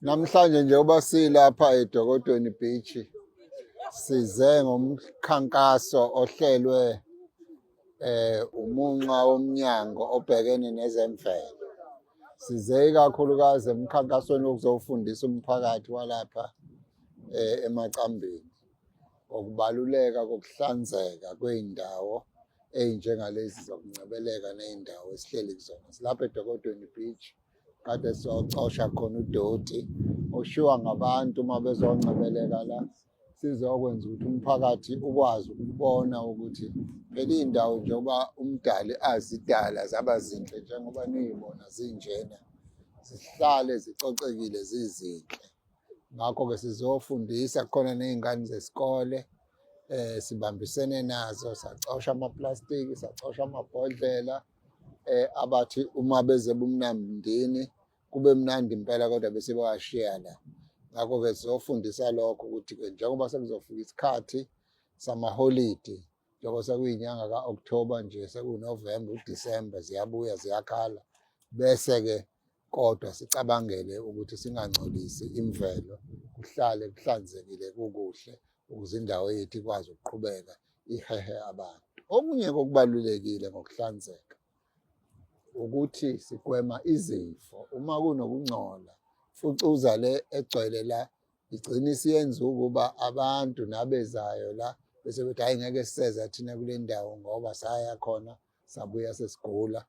Namhlanje njengoba silapha eDokotweni Beach size ngomkhankaso ohlelwe eh umunxa womnyango obhekene nezemvelo. Size ikakhulukazi emkhankasweni wokuzofundisa umphakathi walapha eh emacambini ngokubaluleka kokuhlanzeka kweindawo ezinjengalezi zokuncebeleka nezindawo esihleli kuzona. Silapha eDokotweni Beach. kade siyocosha khona udoti oshiwa ngabantu uma bezoncebeleka la sizokwenza ukuthi umphakathi ukwazi ukubona ukuthi phela iy'ndawo njengoba umdali azidala zaba zinhle njengoba niyibona zinjena zihlale zicocekile zizinhle ngakho-ke sizofundisa khona ney'ngane zesikole um sibambisene nazo sacosha amaplastiki sacosha amabhodlela um eh abathi uma beze bumnamndini kube mnandi impela kodwa bese bawashiya la ngakho ke sizofundisa lokho ukuthi ke njengoba sekuzofika isikhathi samaholidi njengoba sekuyinyanga ka-October nje sekuNovember uDecember ziyabuya ziyakhala bese ke kodwa sicabangele ukuthi singangcolisi imvelo kuhlale kuhlanzekile kukuhle ukuze indawo yethu ikwazi ukuqhubeka ihehe abantu okunye kokubalulekile ngokuhlanzeka ukuthi sigwema izifo uma kunokungcola fucuza le egcwele la igcina isiyenza ukuba abantu nabezayo la bese bethi hayi ngeke siseza thina kule ndawo ngoba saya khona sabuya sesigula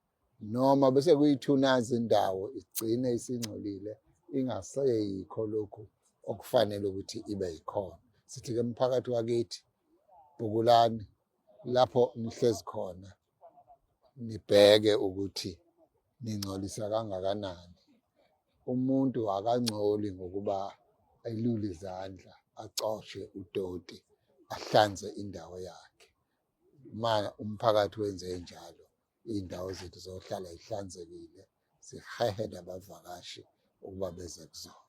noma bese kuyithuna izindawo igcine isingcolile ingaseyikho lokhu okufanele ukuthi ibe yikhona sithi ke mphakathi wakithi bukulani lapho nihlezi khona nibheke ukuthi ningcolisa kangakanani umuntu akangcoli ngokuba ayilule izandla acoshe udoti ahlanze indawo yakhe ma umphakathi wenze njalo iy'ndawo zethu zohlala y'hlanzekile, sihehe nabavakashi ukuba beze kuzona.